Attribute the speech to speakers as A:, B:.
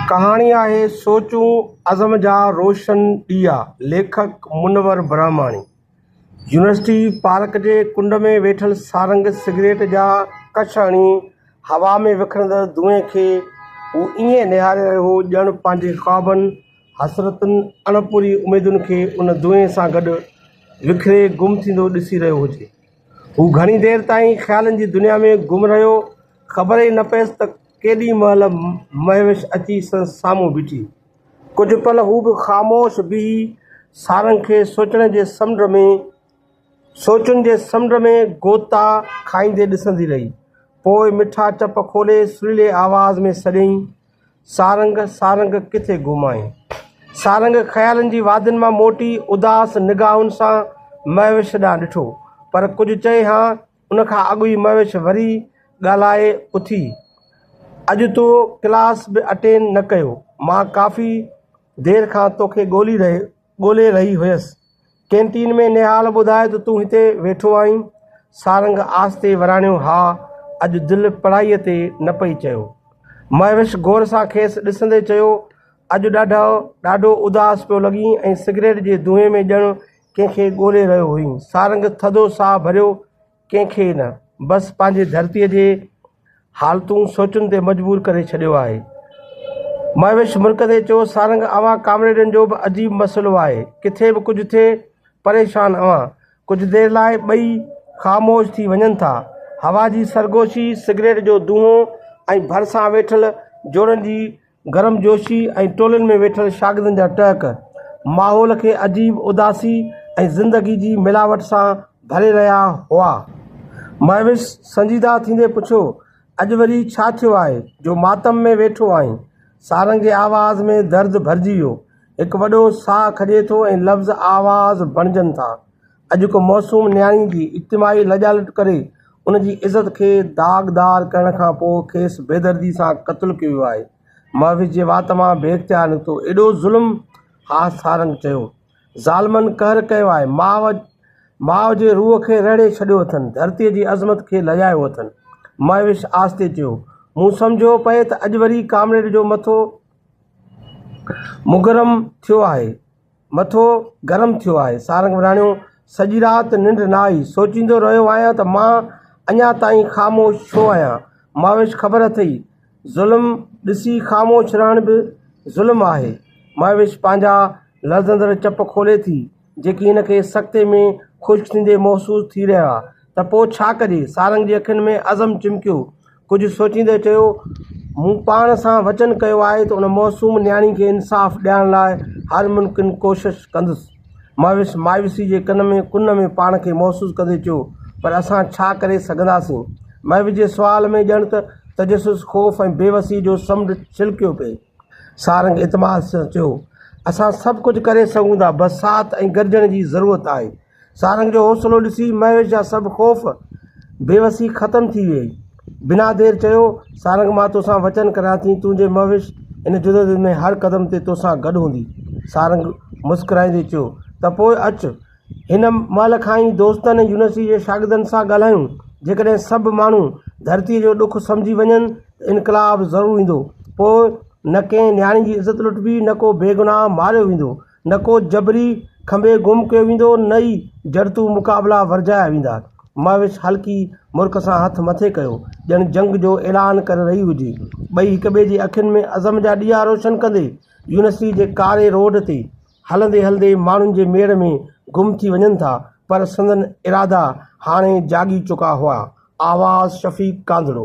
A: ڪهاڻي آهي سوچون عزم جا روشن ڏيئا، ليکڪ منور برهماڻي. يونيورسٽي پارڪ جي ڪنڊ ۾ ويٺل سارنگ سگريٽ جا ڪڇ هڻي هوا ۾ وکرندڙ دونهين کي هو ائين نهاري رهيو هو ڄڻ پنهنجي خوابن، حسرتن، اڻپوري اميدن کي ان دونهين سان گڏ وکري گم ٿيندو ڏسي رهيو هجي. هو گهڻي دير تائين خيالن جي دنيا ۾ گم رهيو. خبر ئي نه پيس ته ڪيڏي مهل مهوش اچي سندس سامهون بيٺي. ڪجهه پل هو به خاموش بيهي سارنگ کي سوچڻ جي سمنڊ ۾ سوچن جي سمنڊ ۾ غوطا کائيندي ڏسندي رهي. پوء مٺا چپ کولي سريلي آواز ۾ سڏيائين، سارنگ! سارنگ! ڪٿي گم آهين؟ سارنگ خيالن جي وادين مان موٽي اداس نگاهن سان مهوش ڏانهن ڏٺو، پر ڪجهه چئي هان ان کان اڳ ئي مهوش وري ڳالهائي اٿي، اڄ تو ڪلاس به اٽينڊ نه ڪيو، مان ڪافي دير کان توکي ڳولي رهي ڳولي رهي هيس. ڪينٽين ۾ نهال ٻڌائي ته تون هتي ويٺو آهين؟ سارنگ آهستي وراڻيو ها، اڄ دل پڙهائي تي نه پئي چيو. مهوش غور سان کيس ڏسندي چيو، اڄ ڏاڍو ڏاڍو اداس پيو لڳين ۽ سگريٽ جي دونهين ۾ ڄڻ ڪنهن کي ڳولي رهيو هئين. سارنگ ٿڌو ساهه ڀريو، ڪنهن کي نه، بس پنهنجي ڌرتيء جي حالتون سوچن تي مجبور ڪري ڇڏيو آهي. مهوش مرڪندي چيو، سارنگ اوهان ڪامريڊن جو به عجيب مسئلو آهي. ڪٿي به ڪجهه ٿئي، پريشان اوهان. ڪجهه دير لاء ٻئي خاموش ٿي وڃن ٿا. هوا جي سرگوشي، سگريٽ جو دونهون ۽ ڀرسان ويٺل جوڙن جي گرم جوشي ۽ ٽولين ۾ ويٺل شاگردن جا ٽهڪ، ماحول کي عجيب اداسي ۽ زندگي جي ملاوٽ سان ڀري رهيا هئا. مهوش سنجيده ٿيندي پڇيو، اڄ وري ڇا ٿيو آهي، جو ماتم ۾ ويٺو آهين؟ سارنگي آواز ۾ درد ڀرجي ويو، هڪ وڏو ساهه کڄي ٿو ۽ لفظ آواز بڻجن ٿا. اڄ ڪو معصوم نياڻي جي اجتماعي لڄالٽ ڪري ان جي عزت کي داغدار ڪرڻ کان پوء کيس بيدردي سان قتل ڪيو ويو آهي. محوش جي وات مان بي اختيار نڪتو، ايڏو ظلم؟ ها سارنگ چيو. ظالمن قهر ڪيو آهي. ماء ماء جي روح کي رهڙي ڇڏيو اٿن، ڌرتيء جي عظمت کي لڄايو اٿن. محوش آهستي چيو. مون سمجهيو پئي ته اڄ وري ڪامريڊ جو مٿو مگرم ٿيو آهي. مٿو گرم ٿيو آهي. سارنگ وراڻيو، سڄي رات ننڊ نه آئي. سوچيندو رهيو آهيان ته مان اڃا تائين خاموش ڇو آهيان. مهوش خبر اٿئي، ظلم ڏسي خاموش رهڻ به ظلم آهي. مهوش پنهنجا لرزندڙ چپ کولي ٿي، جيڪي هن کي سڪتي ۾ خشڪ ٿيندي محسوس ٿي رهيا ته پوء ڇا ڪجي. سارنگ جي اکين ۾ عزم چمڪيو. ڪجهه سوچيندي چيو، مون پاڻ سان وچن ڪيو آهي ته ان معصوم نياڻي کي انصاف ڏيارڻ لاء هر ممڪن ڪوشش ڪندس. مهوش مايوسي جي ڪن ۾ ڪن ۾ پاڻ کي محسوس ڪندي چيو، پر اسان ڇا ڪري سگهنداسين؟ مهوش جي سوال ۾ ڄڻ ته تجسس، خوف ۽ بيوسي جو سمنڊ ڇلڪيو پئي. سارنگ اعتماد سان چيو، اسان سڀ ڪجهه ڪري سگهون ٿا، بس ساٿ ۽ گڏجڻ جي ضرورت آهي. سارنگ جو حوصلو ڏسي مهوش جا سڀ خوف، بيوسي ختم ٿي ويئي. بنا دير چيو، سارنگ مان توسان وچن ڪريان ٿي، تنهنجي مهوش ان جدوجهد ۾ هر قدم تي توسان گڏ هوندي. سارنگ مسڪرائيندي چيو، ته پوء اچ. هن مهل کان ئي دوستن ۽ يونيورسٽيء جي شاگردن سان ڳالهايون. جيڪڏهن سڀ ماڻهو ڌرتيء جو ڏک سمجهي وڃن ته انقلاب ضرور ايندو. پوء نه ڪنهن نياڻي جي عزت لٽبي، نه ڪو بيگناهه ماريو ويندو، نه ڪو جبري کنڀي گم ڪيو ويندو، نه ئي جڙتو مقابلا ورجايا ويندا. مهوش هلڪي مرڪ سان هٿ مٿي ڪيو، ڄڻ جنگ جو اعلان ڪري رهي هجي. ٻئي هڪٻئي جي اکين ۾ عزم جا ڏيئا روشن ڪندي، يونيورسٽيء جي ڪاري روڊ تي، هلندي هلندي ماڻهن جي ميڙ ۾ گم ٿي وڃن ٿا پر سندن ارادا هاڻي جاڳي چڪا هئا. آواز شفيق ڪانڌڙو.